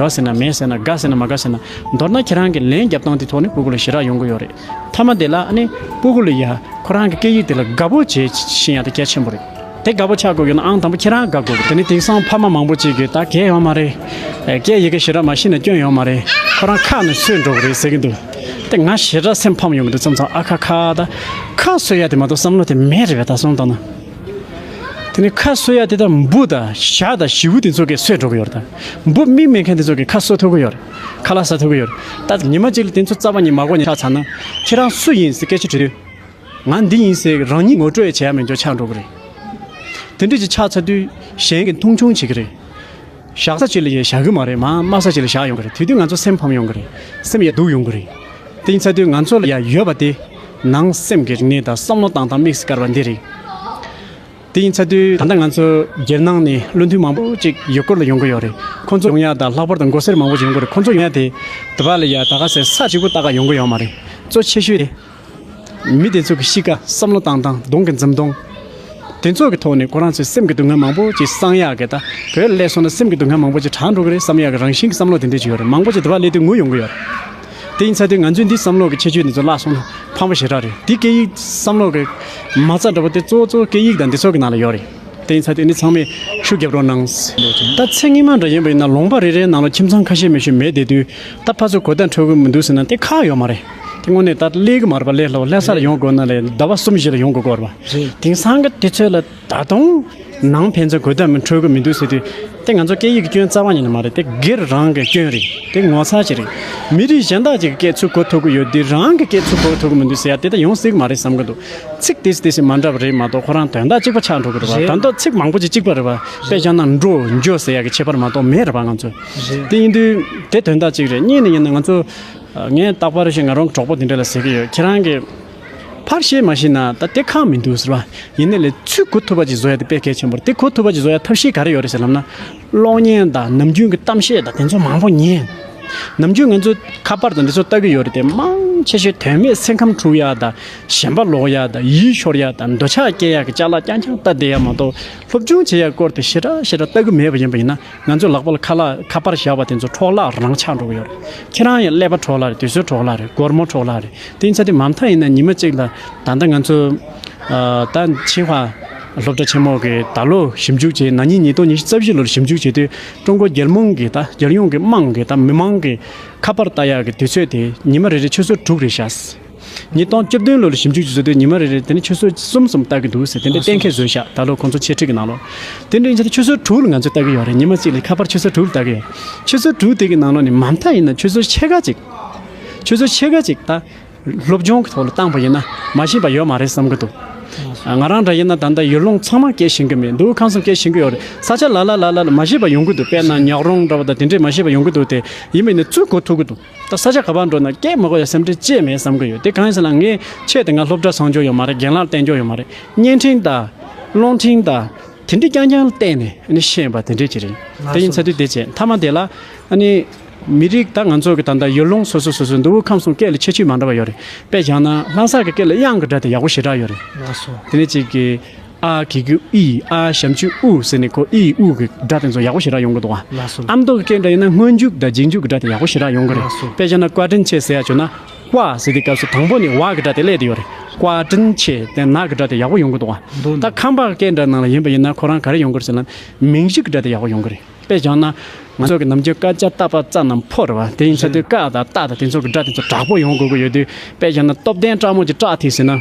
ག་ཟེར་ན་མེད་ཟེར་ན་དགའ་ཟེར་ན་མ་དགའ་ཟེར་ན་མདོར་ན་ཁྱེད་རང་གི་ལན་རྒྱབ་སྟངས་དེ་ཐོག་ནས་སྤུ་གུ་ལ་ཞེ་དྲག་ཡོང་གི་ཡོད་རེད་མཐའ་མ་དེ་ལ་ཨ་ནི་སྤུ་གུ་ལ་ཡ་ཁོ་རང་གི་སྐད་ཡིག་དེ་ལ་དགའ་པོ་བྱེད་བཞིན་ཡ་ད་གལ་ཆེན་པོ་རེད་དེ་དགའ་པོ་ཆགས་དགོས་ཀྱི་ན་ཨང་དང་པོ་ཁྱེད་རང་དགའ་དགོས་གི་རེད་དེ་ནི་དེང་སང་ཕ་མ་མང་པོ་གཅིག་གི་ད་གལ་ཡོང་མ་རེད་སྐད་ཡི་གེ་ཞེ་དྲག་མ་ཤེས་ན་སྐྱོན་ཡོང་མ་རེད་ཁོ་རང་ཁ་ནས་ཚོད་འགྲོ་གི་རེད་ཟེར་གྱི་འདུག་དེ་ང་ཞེ་དྲག་སེམས་ཕམ་ཡོང་གི་འདུག་མཚམས་མཚམས་ཨ་ཁ་ཁ་ད་ཁ་གསོད་ཡ་དེ་མ་གཏོགས་བསམ་བློ་དེ་མེད་རེད་བས་ད་སོང་དང་ན། དེ་ནས་ཁ་གསོ་ཡ་དེ་དག་འབུ་དང་ཞག་དང་བྱི་བུ་དེ་ཚོ་གས་གསོད་འགྲོ་གི་ཡོད་དང། འབུ་སྨིན་མེད་མཁན་དེ་ཚོ་གས་ཁ་གསོ་ཐུབ་ཀྱི་ཡོད། ཁ་ལག་ཟ་ཐུབ་ཀྱི་ཡོད། ད་ཉི་མ་གཅིག་ལ་དེ་ཚོ་རྩ་བ་ཉིད་མ་གོ་ནས་ཁ་ཚ་ན། ཁྱེད་རང་སུ་ཡིན་ཟེར་སྐད་ཆ་དྲིས་དུས། ང་འདི་ཡིན་ཟེར་གི་རང་ཉིད་ངོ་སྤྲོད་ཡས་བྱས་ཡ་མེད་འགྱོ་ཆགས་འགྲོ་གི་རེད། དེ་འདྲས་ཀྱི་ཆགས་ཚ་དུས་གཞན་གྱི་མཐོང་ཆུང་བྱེད་ཀྱི་རེད། བཞག་ས་གཅིག་ལ་ཡང་བཞག་གི་མ་རེད་མ་སྨྲ་ས་གཅིག་ལ་བཞག་ཡོང་གི་རེད་དུས་དུས་ང་ཚོ་སེམས་ཕམ་ཡོང་གི་རེད་སེམས་ཡ་སྡུག་ཡོང་གི་རེད་གཏིང་ཚ་དུས་ང་ཚོ་ལ་ཡང་ཡོད་པ་དེ་ནང་སེམས་ཀྱི་རིག་གནས་དང་བསམ་བློ་བཏང་སྟངས་དམིགས་སུ་བཀར་བ་འདི་རེད་གཏིང་ཚ་དུས་ད་ལྟ་ང་ཚོ་རྒྱལ་ནང་ནས་བློ་མཐུན་མང་པོ་ཅིག་ཡུལ་སྐོར་ལ་ཡོང་གི་ཡོད་རེད་ཁོང་ཚོ་ཡོང་ཡ་དང་ལྷག་པར་དུ་མགོ་སེར་མང་པོ་ཅིག་ཡོང་གི་རེད་ཁོང་ཚོ་ཡོང་ཡ་དེ་དེ་བ་ལ་ཡ་ད་ག་ཟེ་ས་གཅིག་པོ་ལྟ་ག་ཡོང་གི་ཡོད་མ་རེད་གཙོ་ཆེ་ཤོས་དེ། མི་དེ་ཚོ་གི་གཤིས་ཀ་བསམ་བློ་བཏང་བཏང་གདོང་གི་འཛུམ་མདོང། དེ་ཚོ་གི་ཐོག་ནས་ཁོ་རང་ཚོའི་སེམས་ཀྱི་སྡུག་བསྔལ་མང་པོ་ཅིག་སངས་ཡག་གི་ད་བོད་ལ་སླེབས་སོང་ན་སེམས་ཀྱི་སྡུག་བསྔལ་མང་པོ་ཅིག་དྲག་འགྲོ་གི་རེད་བསམ་ཡག་གི་རང་བཞིན་གྱི་བསམ་བློ་དེ་འདྲ་ཅིག་ཡོད་རེད་མང་པོ་ཅིག་དེ་བ་སླེབས་དུས་ངུ་ཡོང་གི་ཡོད་རེད། དེ་ཡིན་ཚ་དུས་ང་ཚོས་འདིའི་བསམ་བློ་གི་ཁྱད་ཆོས་འདི་ཚོ་བརླག་སོང་ན་ཕངས་པོ་ཞེ་དྲག་རེད་འདི་སྐད་ཡིག་བསམ་བློ་གི་མ་རྩ་འདྲ་པོ་དེ་གཙོ་བོ་གཙོ་བོ་སྐད་ཡིག་དང་འདི་ཚོ་གི་ནང་ལ་ཡོད་རེད་དེ་ཡིན་ཚ་དུས་འདི་ཚང་མས་ཤུགས་རྒྱབ་རོགས་གནང། ད་ཚེ་སྔིན་མ་འདྲ་ཡིན་པ་ཡིན་ན་ལོང་པ་རེ་རེའི་ནང་ལ་ཁྱིམ་ཚང་ཁ་ཤས་མི་ཤི་མེད་བསྡད་དུས་ད་ཕ་ཚོ་གོ་བརྡ་འཕྲོད་དགོས་མི་འདུག་ཟེར་ན་དེ་ཁག་ཡོད་མ་རེད། དངོས་གནས་ད་ལྟ་ཀླད་ཀྱི་མར་པ་ཀླད་ལྷོ་ཀླད་སར་ཡོང་དགོས་ན་ལས་ཟླ་བ་གསུམ་བཞི་ལ་ཡོང་དགོས་སྐོར་བ། དེང་སང་གི་དུས་ཚོད་ལ་ད་དུང་ནང་ཕན་ཚུན་གོ་བརྡ་མི་འཕྲོད་དགོས་མི་འདུག་ཟེར་དུས་དེ་ང་ཚོ་སྐད་ཡིག་གི་སྐྱོན་རྩ་བ་ཉིད་ནས་མ་རེད་དེ་སྒེར་རང་གི་སྐྱོན་རེད་དེ་ངོ་ཚ་ཅི་རེད། མི་རིགས་གཞན་དག་ཅིག་གི་སྐད་ཚུགས་གོ་ཐུབ་ཀྱི་ཡོད་དུས་རང་གི་སྐད་ཚུགས་གོ་ཐུབ་ཀྱི་མི་འདུག་ཟེར་ཡ་དེ་ད་ཡོང་སྲིད་ཀྱི་མ་རེད་བསམ་གྱི་འདུག་ཚིག་དེ་ཞིག་དེ་ཞིག་མ་འདྲ་བ་རེད་མ་གཏོགས་ཁོ་རང་དོན་དག་གཅིག་པ་ཆགས་འགྲོ་གི་རེད་བ་ད་མདོག་ཚིག་མང་པོ་ཅིག་གཅིག་པ་རེད་བ་དཔེ་བཞག་ན་འགྲོ་འཇོ་ཟེར་ཡག་གི་ཁྱད་པར་མ་གཏོགས་མེད་རེད་བ་ང་ཚོ་དེ་ཡིན་དུས་དེ་དོན་དག་གཅིག་རེད་གཉིས་ནི་ཡིན་ན་ང་ཚོ་ངས་རྟག་པར་ཞིག་ང་རང་གི་གྲོགས་པོ་དེ་འདྲ་ལ་ཟེར་གྱི་ཡོད་ཁྱེད་རང་གིས་ཕར་བཤད་མ་ཤེས་ན་ད་ལྟའི་ཁག་མི་འདུག་ཟེར་བ་ཡིན་ནའི་ལས་ཚུལ་གོ་ཐུབ་པ་ཅིག་བཟོ་ཡ་དེ་དཔེ་གལ་ཆེན་པོ་རེད་དེ་གོ་ཐུབ་པ་ཅིག་བཟོ་ཡ་ཐབས་ཤེས་ག་རེ་ཡོད་རེད་ཟེར་ལབ་ན། གློག་བརྙན་དང་ནམ་རྒྱུན་གྱི་གཏམ་བཤད་དང་དེ་ཚོ་མང་པོ་ཉན། ནམ་རྒྱུན་ང་ཚོས་ཁ་པར་དང་འདི་ཚོ་ལྟ་གི་ཡོད་རེད་དེ་མང་ཆེ་ཤོས་དོན་མེད་སེམས་ཁམས་འཁྲུག་ཡ་དང་ཞེན་པ་ལོག་ཡ་དང་ཡིད་ཤོར་ཡ་དང་འདོད་ཆགས་སྐྱེ་ཡ་གི་ལྕགས་ལ་རྐྱང་རྐྱང་ལྟ་བསྡད་ཡ་མ་གཏོགས་སློབ་སྦྱོང་བྱེད་ཡ་སྐོར་དེ་ཤེ་ར་ཤེ་ར་ལྟ་གི་མེད་པ་ཡིན་པ་ཡིན་ན། ང་ཚོས་ལག་པ་ལ་ཁ་ལག་ཁ་པར་བཞག་པ་དེ་ཚོ་འཕྲོག་བརླག་རང་ཆགས་འགྲོ་གི་ཡོད་རེད། ཁྱེད་རང་ཡང་ཀླད་པ་འཕྲོག་བརླག་རེད་དུས་ཚོད་འཕྲོག་བརླག་རེད་སྒོར་མོ་འཕྲོག་བརླག་རེད་དེ་ཡིན་ཚ་དེ་མ་མཐའ་ཡིན་ན་ཉི་མ་གཅིག་ལ་ད་ལྟ་ང་ཚོ། ད་ཆིན་ཧྭ་སློབ་གྲྭ་ཆེན་མོ་གི་ད་ལོ་ཞིབ་འཇུག་བྱས་ན་ཉིན་ཉིས་སྟོང་ཉི་ཤུ་རྩ་བཞི་ལོར་ཞིབ་འཇུག་བྱས་དུས་ཀྲུང་གོ་རྒྱལ་མོང་གི་ད་རྒྱལ་ཡོངས་ཀྱི་དམངས་ཀྱི་ད་མི་མང་གི་ཁ་པར་ལྟ་ཡག་གི་དུས་ཚོད་དེ་ཉི་མ་རེ་རེ་ཆུ་ཚོད་དྲུག་རེ་བཞག་ཉིས་སྟོང་བཅུ་བདུན་ལོར་ཞིབ་འཇུག་ཅིག་བཟོས་དུས་ཉི་མ་རེ་རེར་དེ་ནི་ཆུ་ཟོལ་གསུམ་གསུམ་བཏགས་ཀྱི་འདུག་ཟེར་དེ་འདྲའི་གཏན་འཁེལ་བཟོས་བཞག་ད་ལོར་ཁོང་ཚོ་འཆད་ཁྲིད་ཀྱི་ནང་ལོ། དེ་འདྲའི་ཕྱིར་ཆུ་ཟོལ་དྲུག་ལ་ང་ཚོས་བཏགས་ཀྱི་ཡོད་རེད་ཉི་མ་གཅིག་ལས་ཁ་པར་ཆུ་ཟོལ་དྲུག་བཏགས་ཀྱི་ཡོད། ཆུ་ཟོལ་དྲུག་དེ་གི་ནང་ལོ་ནི་མ་མཐའ་ཡིན་ན་ཆུ་ཟོལ་ཕྱེད་ཀ་གཅིག། ཆུ་ཟོལ་ཕྱེད་ཀ་གཅིག་ད། སློབ་སྦྱོང་གི་ཐོག་ལ་བཏང་བ་ཡིན་ན་མ་ཤེས་པ་ཡོད་མ་རེད་བསམ་གྱི་འདུག། ང་རང་འདྲ་ཡིན་ན་ད་ལྟ་ཡུལ་ལུང་ཚང་མ་སྐྱེལ་བཞིན་གྱི་མི་འདུག་ཁམས་གསུམ་སྐྱེལ་བཞིན་གྱི་ཡོད་རེད་ས་ཆ་ལ་ལ་ལ་ལ་ལ་མ་ཤེས་པ་ཡོང་གི་འདུག་དཔེར་ན་ཉག་རོང་འདྲ་བ་དང་དེ་འདྲས་མ་ཤེས་པ་ཡོང་གི་འདུག་དེ་ཡིན་པས་ནི་བཙུད་གོ་ཐུབ་ཀྱི་འདུག། ད་ས་ཆ་ག་པར་འགྲོ་ན་སྐད་མ་གོ་ཡ་སེམས་ཁྲལ་བཅས་མེད་བསམ་གི་ཡོད་དེ་གང་ཡིན་ཟེར་ན་ངས་ཆེད་དེ་སྔ་སློབ་གྲྭ་སྲང་སྐྱོར་ཡོད་མ་རེད་རྒན་ལགས་བསྟེན་སྐྱོར་ཡོད་མ་རེད་བརྙན་འཕྲིན་དང། རླུང་འཕྲིན་དང། དེ་འདྲས་རྐྱང་རྐྱང་བསྟེན་ནས་ནི་བཤད་ཡོད་པ་དེ་འདྲས་ཀྱི་རེད་དེ་ཡིན་ཚ་དུས་དེ་བྱས་མཐའ་མ་དེ་ལ། ནི། མི་རིགས་ད་ང་ཚོ་གི་ད་ལྟ་ཡུལ་ལུང་སོ་སོ་སོ་སོའི་འདུག་དབུས་ཁམས་སོང་སྐད་ལ་ཁྱད་ཆོས་མང་འདྲ་བ་ཡོད་རེད་དཔེ་བཞག་ན་ལྷ་སར་གི་སྐད་ལ་དབྱངས་གི་སྒྲ་དེ་ཡག་པོ་ཞེ་དྲག་ཡོད་རེད་དེ་ནས་གཅིག་གི། ཨ་ཀི་ཀི་ཨི་ཨ་བྱམས་ཆུ་ཨུ་ཟེར་ནས་ཁོ་ཨི་ཨུ་གི་སྒྲ་དེ་ཚོ་ཡག་པོ་ཞེ་དྲག་ཡོང་གི་འདུག་ཨ་མདོ་གི་སྐད་འདྲ་ཡིན་ན་སྔོན་འཇུག་དང་རྗེས་འཇུག་གི་སྒྲ་དེ་ཡག་པོ་ཞེ་དྲག་ཡོང་གི་རེད་དཔེ་ཆ་ན་བཀའ་དྲིན་ཆེ་ཟེར་ཡ་བྱུང་ན་བཀའ་ཟེར་དུས་སྐབས་སུ་དང་པོ་ནས་བ་གི་སྒྲ་དེ་སླེབས་དུས་ཡོད་རེད་བཀའ་དྲིན་ཆེ་དེ་ན་གི་སྒྲ་དེ་ཡག་པོ་ཡོང་གི་འདུག་ད་ཁམས་པ་སྐད་འདྲ་ནང་ལ་ཡིན་པ་ཡིན་ན་ཁོ་རང་ག་རེ་ཡོང་གི་རེད་ཟེར་ན་མིང་གཞི་གི་སྒྲ་དེ་ཡག་པོ་ཡོང་གི་རེད་དཔེ་བྱུང་ན་ང་ཚོ་གི་ནམ་རྒྱུན་སྐར་ཆ་རྟ་ཕག་རྩ་རྣམས་ཕོ་རེད་བ་དེ་ཡིན་ཚ་དུས་ཀ་དང་རྟ་དང་དེ་ཚོ་གི་སྒྲ་དེ་ཚོ་དྲག་པོ་ཡོང་དགོས་ཀྱི་ཡོད་དུས་དཔེ་བྱུང་ན་སྟོབས་ལྡན་སྤྲང་མོ་གྱི་སྐྲག་ཐིག་ཟེར་ན།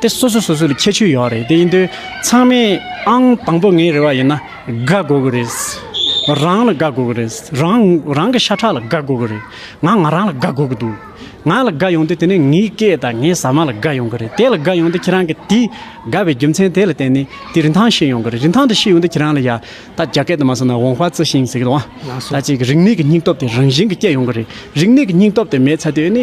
དེ་སོ་སོ་སོ་སོ་ལ་ཁྱད་ཆོས་ཡོད་རེད་དེ་ཡིན་དུས་ཚང་མས་ཨང་དང་པོ་ངའི་རེ་བ་ཡིན་ན་དགའ་དགོས་ཀྱི་རེད། རང་ལ་དགའ་དགོས་ཀྱི་རེད། རང་རང་གི་ཤ་ཁྲག་ལ་དགའ་དགོས་ཀྱི་རེད། ང་ང་རང་ལ་དགའ་དགོས་ཀྱི་འདུག་ང་ལ་དགའ་ཡོང་དུས་དེ་ནི་ངའི་སྐད་དང་ངའི་ཟ་མ་ལ་དགའ་ཡོང་གི་རེད་དེ་ལ་དགའ་ཡོང་དུས་ཁྱེད་རང་གི་དེ་དགའ་བའི་རྒྱུ་མཚན་དེ་ལ་བརྟེན་ནས་དེ་རིན་ཐང་ཤེས་ཡོང་གི་རེད་རིན་ཐང་དེ་ཤེས་ཡོང་དུས་ཁྱེད་རང་ལ་ཡ་ད་རྒྱ་སྐད་དུ་མ་གསུངས་ན་ཝང་ཧྥ་ཙི་ཤིང་ཟེར་གི་འདུག་ཨང་ད་ཅིག་རིག་གནས་ཀྱི་སྙིང་སྟོབས་དེ་རང་བཞིན་གྱིས་སྐྱེ་ཡོང་གི་རེད་རིག་གནས་ཀྱི་སྙིང་སྟོབས་དེ་མེད་ཚར་དུས་ཨེ་ནི་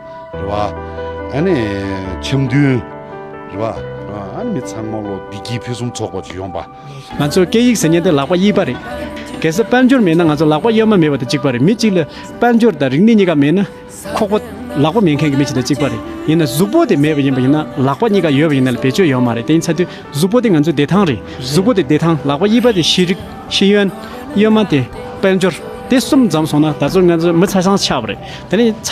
རེད་བ། ཨ་ནི་འཆམ་མཐུན། རེད་བ། ཨ་ནི་མི་ཚང་མ་ལོ་བདེ་སྐྱིད་ཕུན་སུམ་ཚོགས་པ་བྱུང་ཡོང་བ། ང་ཚོར་སྐད་ཡིག་ཟེར་མཉན་དེ་ལག་པ་གཡས་པ་རེད། གལ་སྲིད་དཔལ་འབྱོར་མེད་ན་ང་ཚོ་ལག་པ་གཡས་མ་མེད་པ་དང་གཅིག་པ་རེད་མི་གཅིག་ལ་དཔལ་འབྱོར་དང་རིག་གནས་གཉིས་ཀ་མེད་ན། ཁོག་པ། ལག་པ་མེད་མཁན་གྱི་མི་གཅིག་དང་གཅིག་པ་རེད། ཡིན་ན་གཟུགས་པོ་དེ་མེད་པ་ཡིན་པ་ཡིན་ན་ལག་པ་གཉིས་ཀ་ཡོད་པ་ཡིན་ན་ལ་བེད་སྤྱོད་ཡོད་མ་རེད་དེ་ཡིན་ཚ་དུས་གཟུགས་པོ་དེ་ང་ཚོའི་བདེ་ཐང་རེད་གཟུགས་པོ་དེ་བདེ་ཐང་ལག་པ་གཡས་པ་དེ་ཤེས་རིག་ཤེས་ཡོན། གཡོན་མ་དེ་དཔལ་འབྱོར། དེ་གསུམ་འཛོམས་སོང་ན་ད་གཟོད་ང་ཚོ་མི་ཚ་སངས་ཆགས་པ་རེད་དེ་ནི།